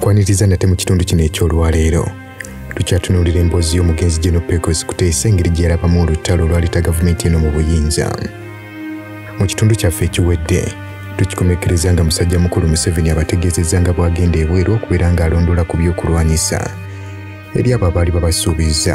kwaniriza nate mu kitundu kino eky'olwaleero tukyatunuulira emboozi y'omugenzi geno pecos kuteesa engeri gye yalabamu olutalo olwaleta gavumenti eno mu buyinza mu kitundu kyaffe ekiwedde tukikomekereza nga musajja mukulu museveni abategeezezza nga bw'agenda ebweru okubeera ng'alondoola ku by'okulwanyisa eri abo abaali babasuubizza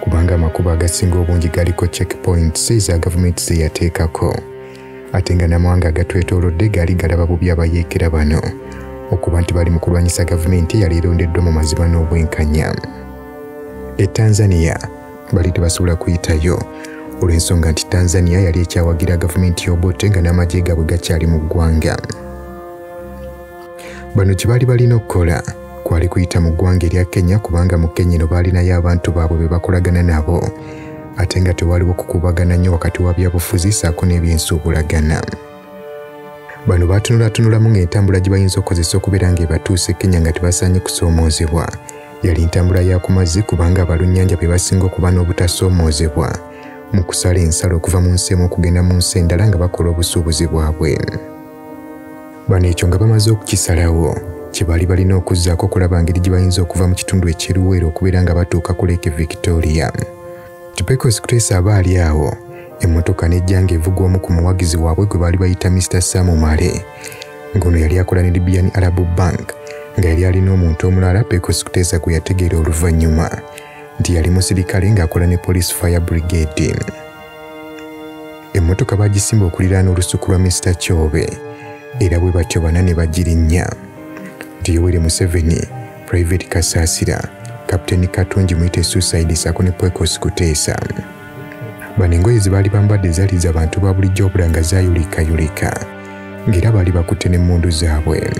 kubanga amakubo agasinga obungi galiko check points eza gavumenti zeyateekako ate nga namawanga agatwetoolodde gaali galaba bubi abayeekera bano okuba nti bali mu kulwanyisa gavumenti eyali erondeddwa mu mazima n'obwenkanya e tanzania bali tebasobola kuyitayo olw'ensonga nti tanzania yali ekyawagira gavumenti y'obote nga n'amagye gaabwe gakyali mu ggwanga bano kye baali balina okukola kwali kuyita mu ggwanga erya kenya kubanga mu kenya eno baalinayo abantu baabwe be bakolagana nabo ate nga tewaliwo kukubagana nnyo wakati wa byabufuzi saako n'ebyensuubulagana bano baatunulatunulamu ng'entambula gye bayinza okukozesa okubeera ng'ebatuuse kenya nga tebasaanye kusoomoozebwa yali ntambula ya ku mazzi kubanga abalunnyanja be basinga okuba n'obutasoomoozebwa mu kusala ensalo okuva mu nsi emu okugenda mu nsi endala nga bakola obusuubuzi bwabwe Bano ekyo nga bamaze okukisalawo kye baali balina okuzzaako okulaba ngeri gye bayinza okuva mu kitundu eky'eruweero okubeera nga batuuka ku Lake Victoria. Tupekos Chris aba ali awo emmotoka n'ejja ng'evugwa omu ku muwagizi waabwe gwe baali bayita Mr Sam Male ng'ono yali akola ne Libyan Arab Bank nga yali alina omuntu omulala Pekos Kutesa gwe yategeera oluvannyuma nti yali musirikale ng'akola ne Police Fire Brigade. emmotoka bagisimba okuliraana olusuku lwa Mister Kyobe era bwe batyo bana ne bagirinnya nti Yoweri Museveni, Private Kasaasira, Kapiteeni Katungi muyite Suicide saako ne Pwekos Kuteesa. Bano engoye ze baali bambadde zaali za bantu ba bulijjo obula nga zaayulikayulika ng'era baali bakutte n'emmundu zaabwe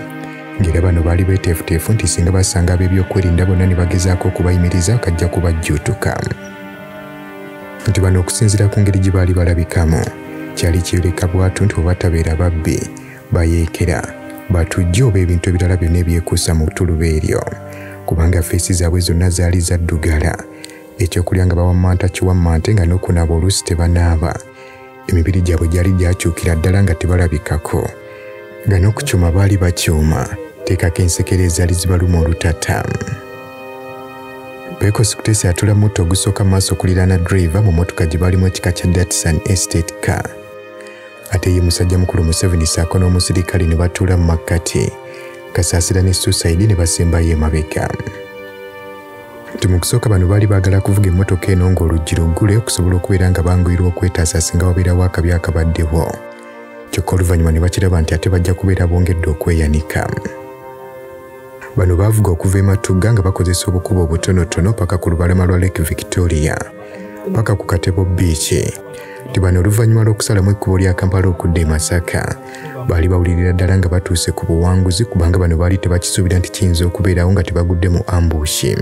ng'era bano baali beeteefuteefu nti singa basanga ab'ebyokwerinda bonna ne bagezaako okubayimiriza kajja kubajjuutuka. nti bano okusinziira ku ngeri gye baali balabikamu kyali kyeyoleka bwatu nti obatabeera babbi bayeekera batujja oba ebintu ebirala byonna ebyekuusa mu ttuluba eryo kubanga feesi zaabwe zonna zaali zaddugala ekyokulya nga bawammanta kiwammante nga n'okunaaba oluusi tebanaaba emibiri gyabwe gyali gyakyukira ddala nga tebalabikako nga n'okukyuma baali bakyuma teekako ensekere ezaali zibaluma olutata pekos kutesi atula mutto ogusooka maaso okuliraana driva mu motoka gye baalimu ekika kya datsan estate car ate ye musajja mukulu museveni saako n'omusirikale ne batuula mu makkati kasaasira ne susaidi ne basembayo emabega nti mu kusooka bano baali baagala kuvuga emmotoka eno ng'oluggi luggule okusobola okubeera nga banguyirwa okwetaasa singa wabeerawo akabi akabaddewo kyokka oluvannyuma ne bakiraba nti ate bajja kubeera bongedde okweyanika bano baavuga okuva e matugga nga bakozesa obukubo obutonotono paka ku lubalama lwa lake victoria paka ku katebo biiki nti bano oluvannyuma lw'okusalamu ekkubo lya kampala okudda e masaka baali bawulirira ddala nga batuuse ku buwanguzi kubanga bano baali tebakisuubira nti kiyinza okubeerawo nga tebagudde mu ambushi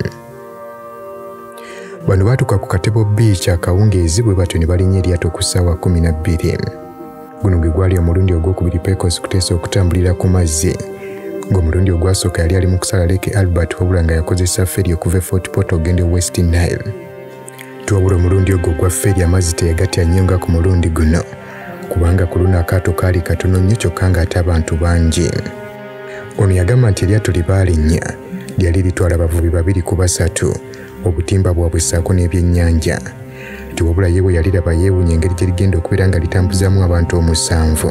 bano baatuuka ku katebo biici akawungeezi bwe batyo ne balinnya eryato ku ssaawa kumi na bbiri guno gwe gwali omulundi ogwokubiri pecos kuteesa okutambulira ku mazzi ng'omulundi ogwasooka yali ali mu kusala leke albert wabula nga yakozesa feri okuva e fort pot ogenda e west nile twabula omulundi ogwo gwaffe eri amazzi teyagatya nnyo nga ku mulundi guno kubanga ku luno akaato kaali katono nnyo kyokka ng'ate abantu bangi ono yagamba nti eryato lye baalinnya lyali litwala abavubi babiri ku basatu obutimba bwabwe ssaako n'ebyennyanja tiwabula ye bwe yaliraba yeewunya engeri gye ligenda okubeera nga litambuzaamu abantu omusanvu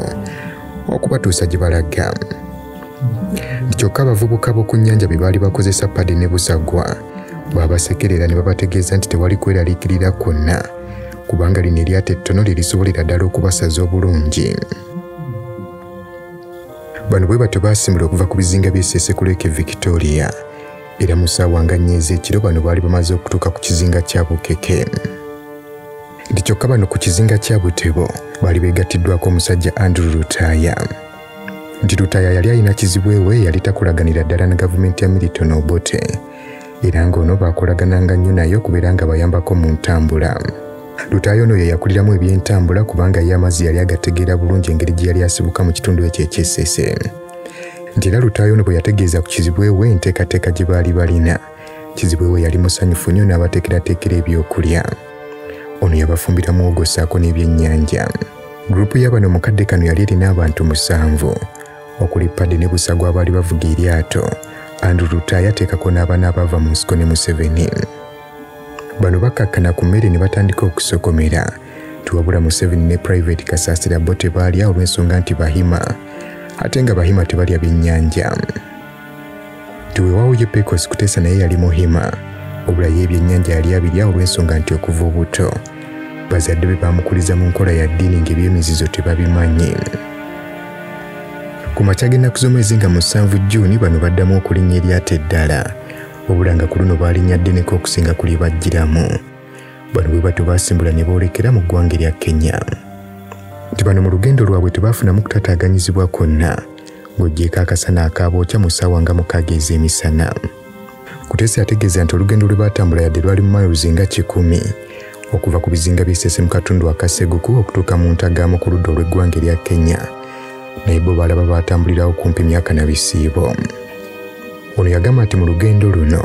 okubatuusa gye balaga kyokka abavubuka b'oku nnyanja bye baali bakozesa padi ne busagwa baabasekerera ne babategeeza nti tewali kweraliikirira kwonna kubanga lino eryato ettono lye lisobolera ddala okubasaza obulungi bano bwe batyo baasimula okuva ku bizinga by'esesekulu eke victoria era mu ssaawa nga nnya ez'ekiro bano baali bamaze okutuuka ku kizinga kya bukeke nti kyokka bano ku kizinga kya butebo baali beegattiddwako omusajja andrew lutaaya nti lutaya yali alina kizibu ewe yali takolaganira ddala na gavumenti ya milton obote era ng'ono baakolagananga nnyo naye okubeera nga bayambako mu ntambula lutaayo ono ye yakuliramu ebyentambula kubanga ye amazzi yali agategeera bulungi engeri gye yali asibuka mu kitundu ekyo ekyesese nti era lutaayo ono bwe yategeeza ku kizibwe we enteekateeka gye baali balina kizibwe we yali musanyufu nnyo n'abateekerateekera ebyokulya ono yabafumbira muwogo ssaako n'ebyennyanja gurupu y'abano mu kadde kano yali erina abantu musanvu okuli padde ne busagwa abaali bavuga eryato andrew ruta yateekako n'abaana abaava mu nsiko ne museveni bano bakkakkana ku mmere ne batandika okusokomera tiwabula museveni ne private kasaasira bo tebaalya olw'ensonga nti bahima ate nga bahima tebalya byennyanja tiwewawo ye pecos kuteesa naye yali muhima obula ye ebyennyanja yali abirya olw'ensonga nti okuva obuto bazadde be baamukuliza mu nkola ya ddiini ng'ebyemizizo tebabimanyi ku makya g'ennaku z'omwezi nga musanvu juuni bano baddamu okulinnya eryato eddala obulanga ku luno baalinya ddeneko okusinga ku lye bajjiramu bano bwe batyo baasimbula ne boolekera mu ggwanga erya kenya nti bano mu lugendo lwabwe tebaafunamu kutataaganyizibwa kwonna ng'oggyeeko akasana akaabookya mu ssaawa nga mukaaga ez'emisana kutesi ategeeza nti olugendo lwe baatambula yadde lwali mu miles nga kikumi okuva ku bizinga by'esese mu katundu akaseguku okutuuka mu ntagaamu ku ludda olw'eggwanga erya kenya naye bo balaba baatambulirawo kumpi myaka na bisiibo ono yagamba nti mu lugendo luno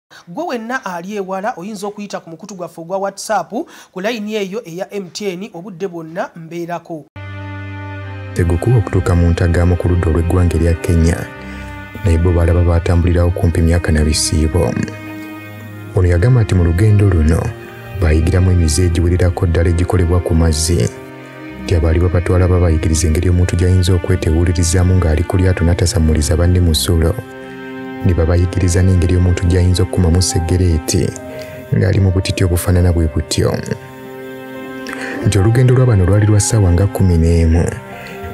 gwe wenna ali ewala oyinza okuyita ku mukutu gwaffe ogwa whatsapp ku layini eyo eya mtn obudde bwonna mbeerako tegukuba okutuuka mu ntagamu ku ludda olw'eggwanga erya kenya naye bo balaba baatambulirawo kumpi myaka na bisiibo ono yagamba nti mu lugendo luno bayigiramu emize egiwererako ddala egikolebwa ku mazzi gyabaali babatwala babayigiriza engeri omuntu gy'ayinza okwetewulirizaamu ng'ali ku lyato n'atasammuliza banne musulo ne babayigiriza n'engeri omuntu gy'ayinza okukumamu seggereeti ng'ali mu butiti obufaanana bwe butyo nti olugendo lwa bano lwali lwa ssaawa nga kkumi n'emu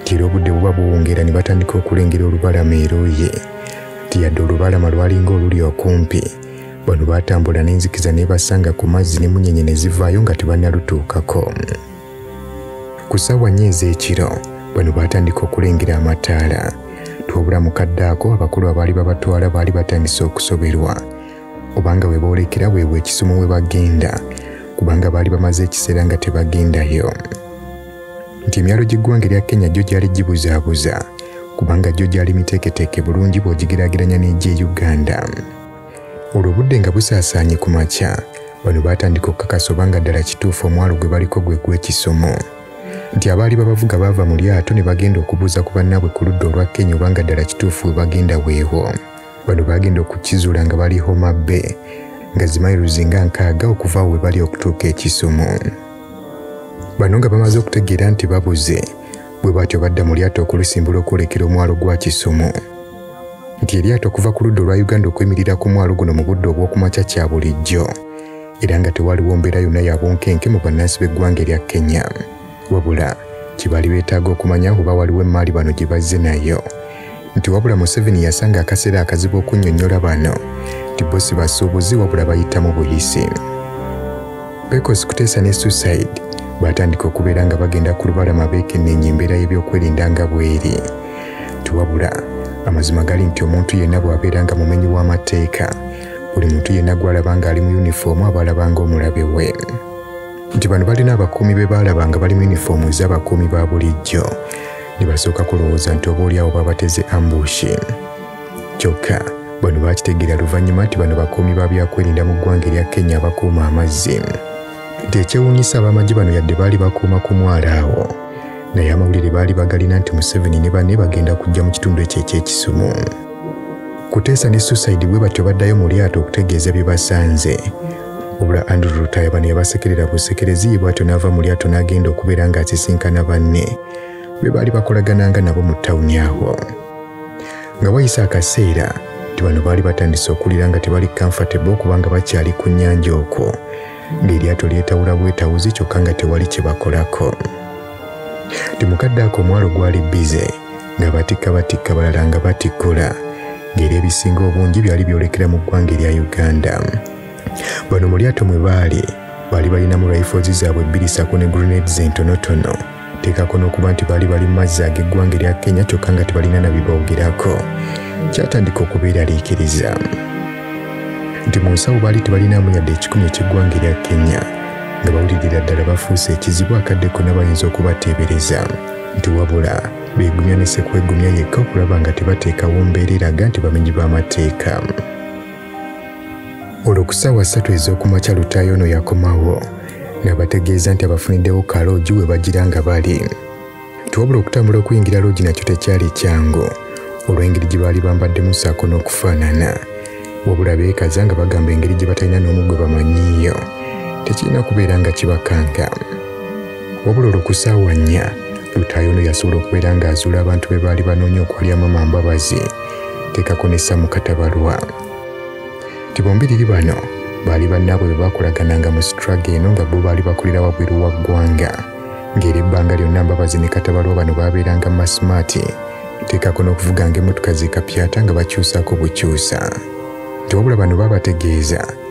nti era obudde buba buwungeera ne batandika okulengera olubalama eruuyi nti yadde olubalama lwalinga oluli okumpi bano baatambula n'enzikiza nebasanga ku mazzi ne munyenye ne zivaayo nga tebannalutuukako ku ssaawa nnya ez'ekiro bano baatandika okulengera amataala twabula mukadde ako abakulu abaali babatwala baali batandise okusoberwa obanga we boolekera weebwa ekisumu we bagenda kubanga baali bamaze ekiseera nga tebagendayo nti emyalo gy'eggwanga erya kenya gyo gyali gibuzaabuza kubanga gyo gyali miteeketeeke bulungi bw'ogigeraageranya n'egy'e uganda olwo obudde nga busaasaanye ku makya bano baatandika okukakasa oba nga ddala kituufu omwalo gwe baliko gwe gw'ekisomo nti abaali babavuga baava mu lyato ne bagenda okubuuza ku bannaabwe ku ludda olwa kenya oba nga ddala kituufu we bagenda weewo bano baagenda okukizuula nga bali homa be nga zimairuzi nga nkaaga okuva awo we bali okutuuka ekisomo bano nga bamaze okutegeera nti babuze bwe batyo badda mu lyato okulusimbula okwolekera omwalo gwa kisomo nti eryato okuva ku ludda olwa uganda okwemirira ku mwalo guno mu budde obw'okumakya kya bulijjo era nga tewaliwo mbeera yonna ya bunkenke mu bannansi b'eggwanga erya kenya wabula kye baali beetaaga okumanya oba waliwo emmaali bano gye bazze nayo nti wabula museveni yasanga akaseera akazibu okunnyonnyola bano nti bo si basuubuzi wabula bayitamu buyisi pecos kuteesa ne suicide baatandika okubeera nga bagenda ku lubalama beekenneenye embeera y'ebyokwerinda nga bweri tiwabula amazima gali nti omuntu yenna bw'abeera nga mumenyi w'amateeka buli muntu yenna gw'alaba ng'ali mu yunifoomu aba alaba ng'omulabe we nti bano balina abakuumi be baalaba nga bali mu yunifoomu ez'abakuumi ba bulijjo ne basooka kulowooza nti oba olyawo babateze ambushi kyokka bano baakitegeera luvannyuma nti bano bakuumi ba byakwerinda mu ggwanga erya kenya abakuuma amazzi nti ekyewuunyisa ab'amagye bano yadde baali bakuuma ku mwala awo naye amawulire baali bagalina nti museveni ne banne bagenda kujja mu kitundu ekyo eky'ekisumu kuteesa ne suicide bwe batyo baddayo mu lyato okutegeeza bye basanze obula andrew lutaya bano yabasekerera busekereziyi bw'atyo n'ava mu lyato n'agenda okubeera ng'asisinkana banne be baali bakolagananga nabo mu tawuni awo nga wayise akaseera nti bano baali batandise okuwulira nga tebali comfortable kubanga bakyali ku nnyanja okwo ng'eryato lyetawula bwetawuzi kyokka nga tewali kye bakolako ti mukadde ako omwalo gwali bize nga batikka batikka balala nga batikkula ng'era ebisinga obungi byali byolekera mu ggwanga erya uganda bano mu lyato mwe baali baali balinamu rifles zaabwe bbiri sako ne grenades entonotono teekako n'okuba nti baali bali mu mazzi ag'eggwanga erya kenya kyokka nga tebalina na biboogerako kyatandika okubeeraliikiriza nti mu nsawo baali tebalinamu yadde ekikumi eky'eggwanga erya kenya nga bawulirira ddala bafuuse ekizibu akadde konna bayinza okubateebereza nti wabula beegumya ne sekwegumya yekka okulaba nga tebateekawo mbeera eraga nti bamenyi b'amateeka olwo ku ssaawa ssatu ez'okumakya lutaayo ono yakomawo nabategeeza nti abafuniddewo ka loogi we bagira nga bali twabula okutambula okuyingira loogi nakyo tekyali kyangu olw'engeri gye baali bambaddemu ssaako n'okufaanana wabula beekaza nga bagamba engeri gye batalina n'omu gwe bamanyiiyo tekirina kubeera nga kibakanga wabula olwo ku ssaawa nnya lutaayo ono yasobola okubeera ng'azuula abantu be baali banoonya okwalya mama mbabazi teekako ne samu katabalwa ti bombiriri bano baali bannaabwe be baakolagananga mu sitraga eno nga bo baali bakolera wabweru wa ggwanga ng'era ebbanga lyonna mbabazi ne katabalwa bano baabeeranga masimaati teekako n'okuvuganga emmotoka z'ekapyata nga bakyusaako bukyusa nti wabula bano baabategeeza